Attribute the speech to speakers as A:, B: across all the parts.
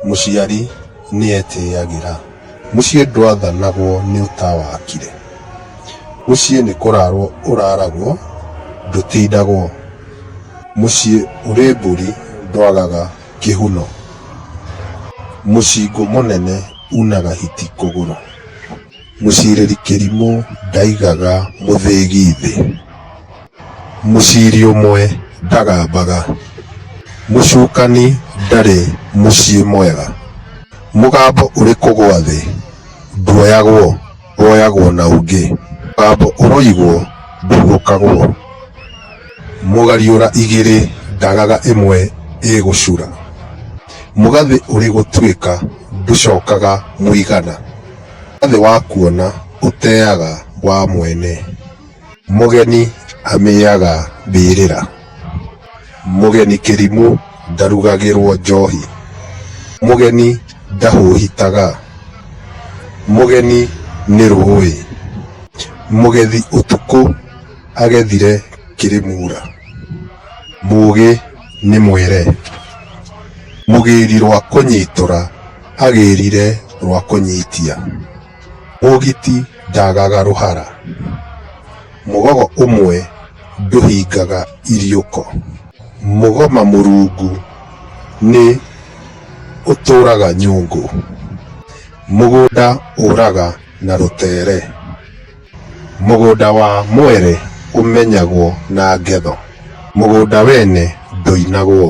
A: Mũciari nĩetĩagĩra. Mũciĩ ndwathanagwo nĩ ũtawakire. Mũciĩ nĩ kũrarwo ũraragwo ndũtindagwo. Mũciĩ ũrĩ mbũri ndwagaga kĩhuno. Mũcingũ mũnene unaga hiti kũgũrũ. Mũcirĩri kĩrimũ ndaigaga mũthĩgi thĩ. Mũciri ũmwe ndagambaga. Mũcukani ndarĩ mũciĩ mwega. Mũgambo ũrĩ kũgwa thĩ nduoyagwo, woyagwo na ũngĩ. Mũgambo ũroigwo ndũgũkagwo. Mũgariũra igĩrĩ ndagaga ĩmwe ĩgũcura. Mũgathĩ ũrĩ gũtuĩka ndũcokaga mũigana. Mwathĩ wakuona ũteaga wa mwene, mũgeni amĩaga mbĩrĩra. Mũgeni kĩrimũ ndarugagĩrwo njohi, mũgeni ndahũhitaga. Mũgeni nĩ rũũĩ, mũgethi ũtukũ agethire kĩrĩmuura. Mũũgĩ nĩ mwere, mũgĩri rwa kũnyitũra. agĩrire rwa kũnyitia, ũgiti ndaagaga rũhara, mũgogo ũmwe ndũhingaga iriũko. Mũgoma mũrungu nĩ ũtũũraga nyũngũ, mũgũnda ũũraga na rũteere, mũgũnda wa mwere ũmenyagwo na ngetho, mũgũnda wene ndũinagwo.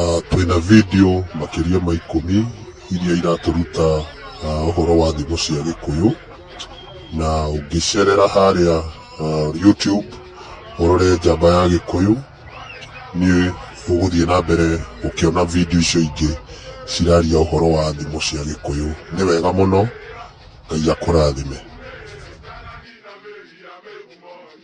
A: Ah, twĩna video makĩria ma ikũmi iria iratũruta ah, ũhoro wa thimo cia gĩkũyũ na ũngĩcerera harĩa ah, youtube ũrore njamba ya gĩkũyũ nĩ ũgũthiĩ na mbere ũkĩona video icio ingĩ ciraria ũhoro wa thimo cia gĩkũyũ nĩ wega mũno ngai akũrathime